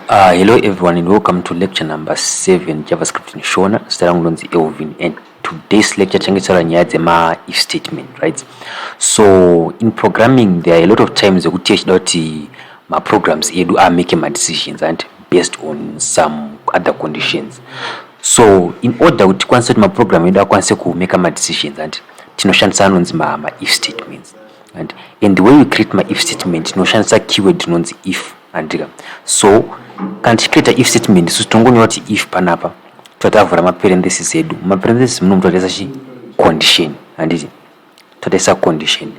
Uh, hello everyone and welcome to lecture number 7 javascript in shona zita rangu ndonzi elvin and today's lecture tichange tichitaura nyaya dzema if statement right so in programming there are a lot of times ekuti tichida kuti maprograms edu amake madecisions ant based on some other conditions so in order kuti tikwanise kuti maprogram edu akwanise kumake madecisions ant tinoshandisa anonzi maif statements And, and the way you create my if statement tinoshandisa keyword inonzi if handika so kana tichicreata if statement isu tinongonyora kuti if panapa totavhura maparenthesis edu mumaparenthesis muno mutotaisa chi condition handiti totaisa condition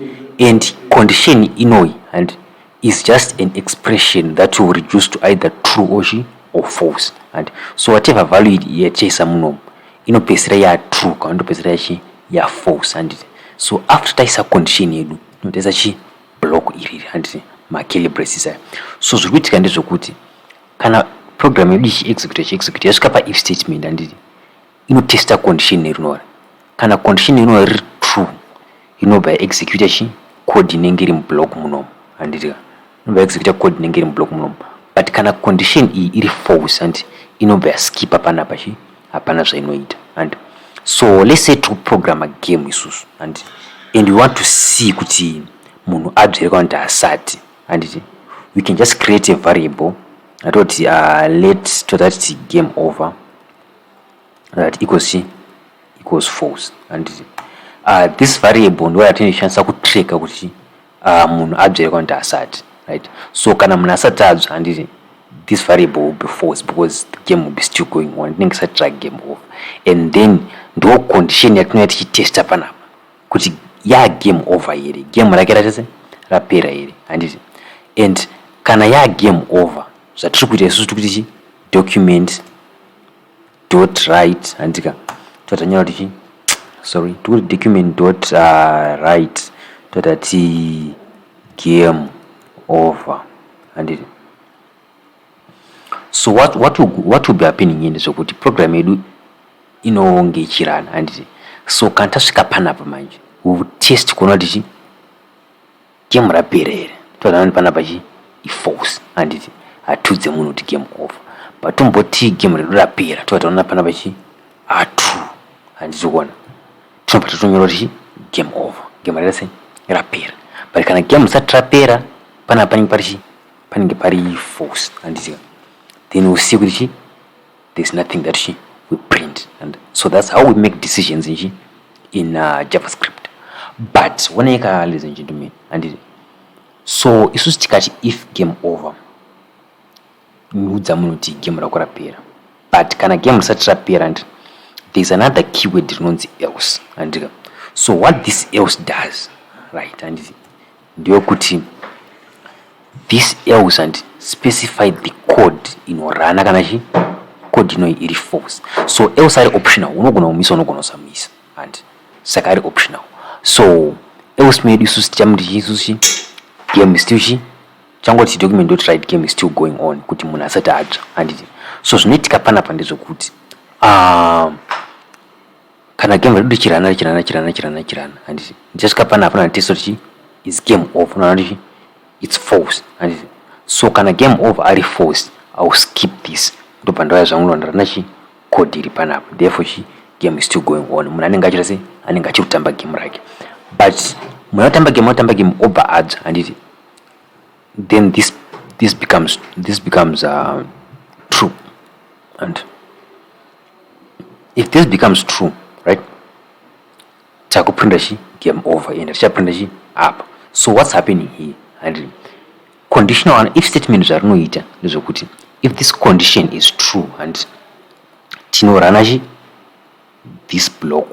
and condition inoyi handi is just an expression that you reduce to either true or she or false and so whatever value yatichaisa munomu inopedzisira ya true kana ndopedzisira yachi ya false and so after taisa condition yedu inotaisa chi block iri and makele braces aya so zviri kuitika ndezvekuti kana program yedu ichi execute ichi execute yasvika pa if statement anditi inotesta condition rinori kana condition rinori riri true inobva yaexecuta chi code inenge iri mublock munomu handiti ka inobva yaexecuta code inenge iri mublock munomu but kana condition iyi iri false hanti inobva yaskipa panapa chi hapana zvainoita hanti so let's say tiri kuprograma game isusu hanti and we want to see kuti munhu abzere kana kuti asati handiti we can just create a variable atoti uh, let totati game over that equals chi equals false handiti uh, this variable ndo yatinoshandisa kutracka kuti uh, munhu abvere kana kuti asati right so kana munhu asati abva handiti this variable will be false because the game will be still going on ndinenge sati tra game off and then ndo condition yatinouya tichitesta panapa kuti ya game over here game rake ratese rapera here handiti and kana ya game over zvatiri kuita isusu tikuti chi document dot right handika totanyora tichi sorry tikuti document dot uh, right toita ti game over handiti so what, what, will, what will be happening ini zvekuti program yedu inonge ichirana handiti so kana tasvika panapa manje we will test kuona kuti chii Game rapera here? Todanani panapa chi iforce handiti hatudze munhu kuti game over but tomboti game redu rapera toa taona panapa chi atu handiti kuona tinobva tatonyora kuti chi game over game rese rapera but kana game risati rapera panapa panenge pari chi panenge pari force handiti then usiye kuti chi there's nothing that she we print and so that's how we make decisions nji in uh, javascript but wonei ka listen nji to me handiti so isusu tikati if game over niudza munhu kuti game rako rapera but kana game risati rapera ndi there's another keyword rinonzi else handika so what this else does right handiti Ndeyokuti this else and specify the code inorana kana chi code inoi iri false so else ari optional unogona kumisa unogona kusamisa and saka ari optional so else medu isusu tichamuti chii isusu chi game still chi changoti document dot right game still going on kuti munhu asati atsva handiti so zvinoitika panapa ndezvekuti um, kana game redu richirana richirana richirana richirana richirana handiti ndichasvika pana hapana nditese kuti is game over unoona kuti its false handiti so kana game over ari false iwill skip this ndobva ndauya zvangu ndoona rana chi code iri panapa therefore chi game is still going on munhu anenge achita sei anenge achiri kutamba game rake but munhu anotamba game anotamba game obva adzwa handiti then this this becomes this becomes uh, true and if this becomes true right takuprinda chi game over ende tichaprinda chi apa so what's happening here handii conditional one if statement zvarinoita ndezvekuti if this condition is true and tinorana chi this block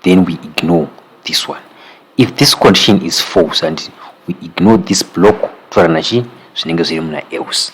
then we ignore this one if this condition is false and we ignore this block torana chi zvinenge zviri muna else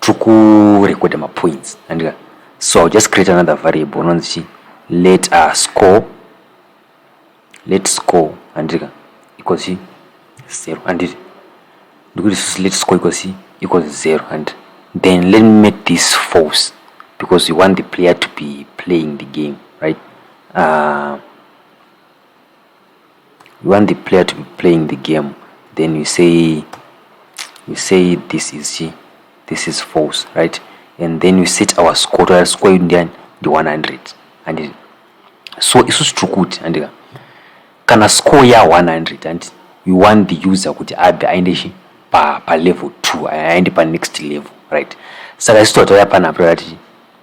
tiri kurekodha mapoints andika so ill just create another variable unonzi chi let uh, score let score andika equals chi zero anditi ndikuti susi let score equals chi equals zero and then let me make this false because we want the player to be playing the game right uh, You want the player to be playing the game then you say you say this is chi this is false right and then you set our score toa score yedu ndiani ndi 100 and so isusu tiri kuti andika kana score ya 100 and you want the user kuti abve aende chi pa pa level 2 aende pa next level right saka isusu toa tauya panapa tati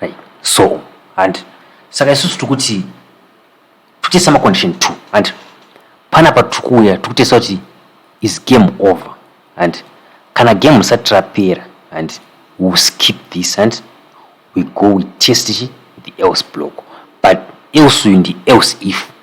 Right. So, and saka isusu tikuti tikutesa macondition two and panapa tiri kuuya tiri kutesa kuti is game over and kana game risati rapera and we will skip this and we go we test the else block but else uyu ndi else if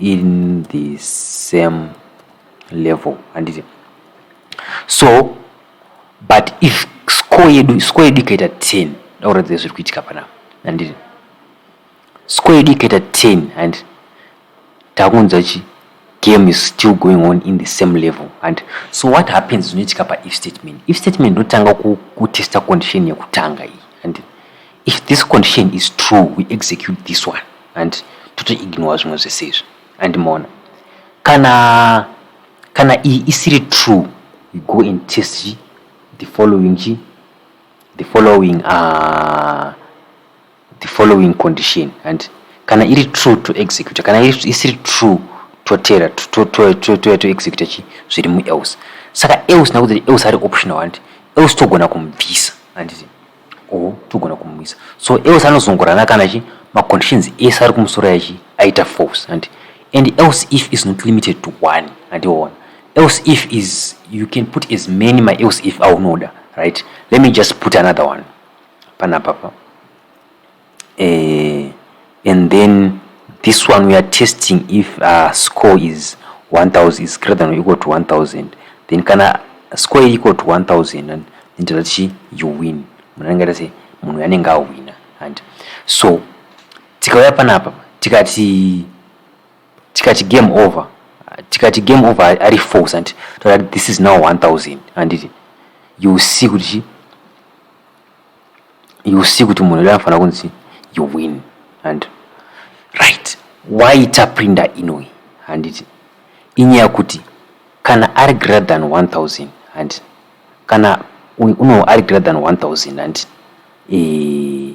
in the same level handiti so but if score yedu score yedu ikaita 10 dakuratidza zviri kuitika panapa handiti score yedu ikaita 10 handiti takunzwa chi game is still going on in the same level and so what happens zvinoitika paif statement if statement ndotanga kutesta condition yekutanga iyi and If this condition is true, we execute this one and toto ignore zvimwe zvese izvi and mona kana kana iyi isiri true we go and test chi the following chi the following uh, the following condition and kana iri true to execute kana isiri true totera toya to execute chi zviri muelse saka else nakuti else ari optional and else togona kumubvisa handiti or togona kumumisa so else anozongorana kana chi maconditions ese ari kumusoro yachi aita false handi and else if is not limited to one handiona else if is you can put as many my else if aunoda right let me just put another one panapapa eh, and then this one we are testing if uh, score is 1000 is greater than or equal to 1000 then kana score is equal to 1000 and then tichi you win munhu anenge aita sei munhu anenge awina and so tikauya panapa tikati tikati game over tikati game over ari false and tikati this is now 1000 anditi you see kuti you see kuti munhu uda anofanira kunzi you win and right why taprinda inoi handiti inyaya kuti kana ari greater than 1000 handi kana uno ari greater than 1000 handi ee eh,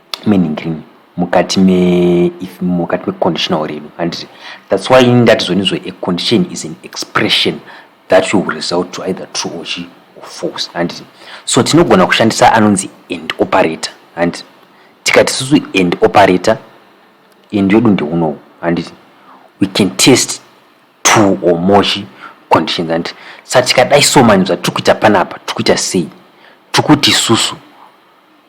meaning rini mukati me if mukati me conditional redu handiti that's why ini ndati zvoni zvo a condition is an expression that will result to either true or chi or false handiti so tinogona kushandisa anonzi and operator handiti tikati susu and operator and yodu ndeunowu handiti we can test two or more chi conditions handiti sa tikadai so mani zvatiri kuita panapa tiri kuita sei tiri kuti susu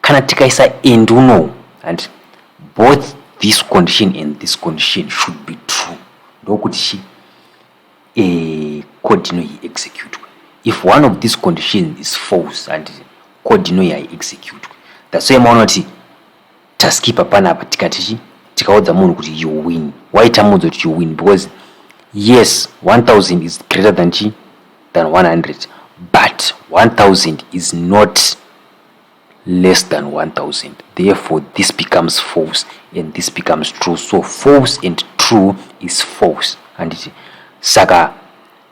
kana tikaisa and unowu hanti both this condition and this condition should be true ndokuti chi e, code ino iexecutwe if one of this condition is false and code ino yaiexecutwe that's why maona kuti taskipa panapa tikati chi tikaudza munhu kuti you win why tamuudza kuti you win because yes 1000 is greater than chi than 100 but 1000 is not less than 1000 therefore this becomes false and this becomes true so false and true is false handiti saka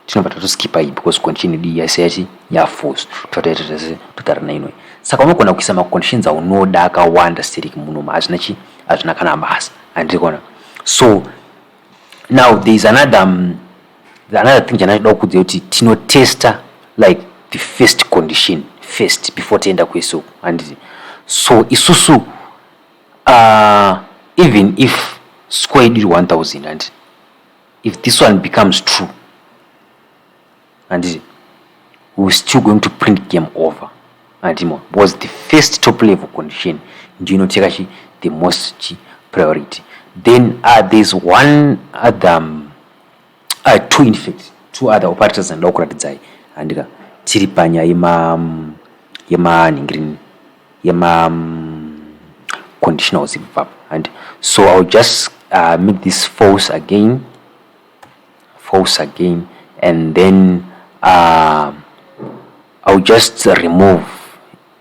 tinobva tatoskipa iyi because condition yedu yaise yachi yafalse totataita tese totara nainoi saka unogona kuisa maconditions aunoda akawanda steriki munoma hazvina chi hazvina kana basa handiri kona so now there is another um, another thing chandinoda kukudzai kuti tinotesta like the first condition first before tienda kweso handiti so isusu uh, even if score yedu iri 1000 handiti if this one becomes true handiti we're still going to print game over handimo because the first top level condition ndiyo inoteka chi the most chi priority then uh, there's one other um, I two in fact two other operators and local design andika tiri panya yema mm, yema ningrini yema mm, conditionals ipapa and so I'll just uh, make this false again false again and then uh, I'll just remove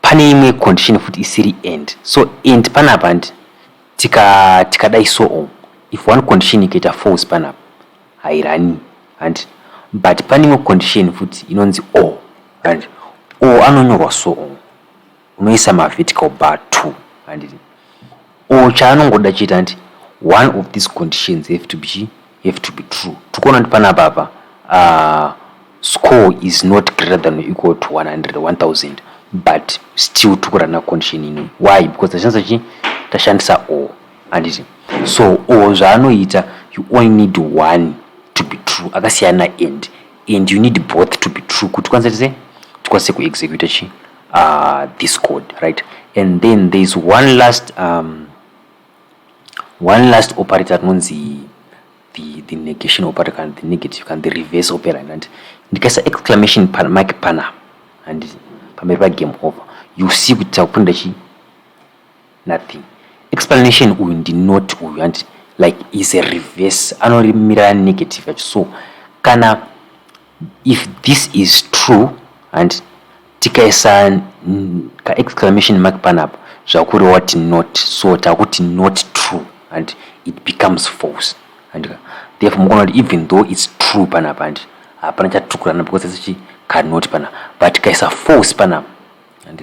pane imwe condition futi isiri and so and panapa handi tika tikadai so on if one condition ikaita false panapa hairani handi but pane imwe condition futi inonzi o handi o anonyorwa so on unoisa mavertical bar two handiti or chaanongoda chete anti one of these conditions have to be chi have to be true tikuona kuti panapa apa uh, score is not greater than or equal to 100 1000 but still tikurana condition ini why because tashandisa chi tashandisa o handiti so o zvaanoita you only need one to be true akasiyana and and you need both to be true kuti kwanisa tise tikwanise kuexecuta chi uh, discord right and then there's one last um, one last operator rinonzi the, the negation operator kana the negative kana the reverse operator and ndikaisa exclamation pan, mark pana and pamberi pagame over you see kuti takupinda chi nothing explanation uyu ndinoti uyu and like is a reverse anorimirana negative yacho so kana If this is true and tikaisa ka exclamation mark panapa zvakureva kuti not so takuti not true and it becomes false and therefore mukuona kuti even though it's true panapa and hapana chatukurana because it's chi cannot panapa but tikaisa false panapa and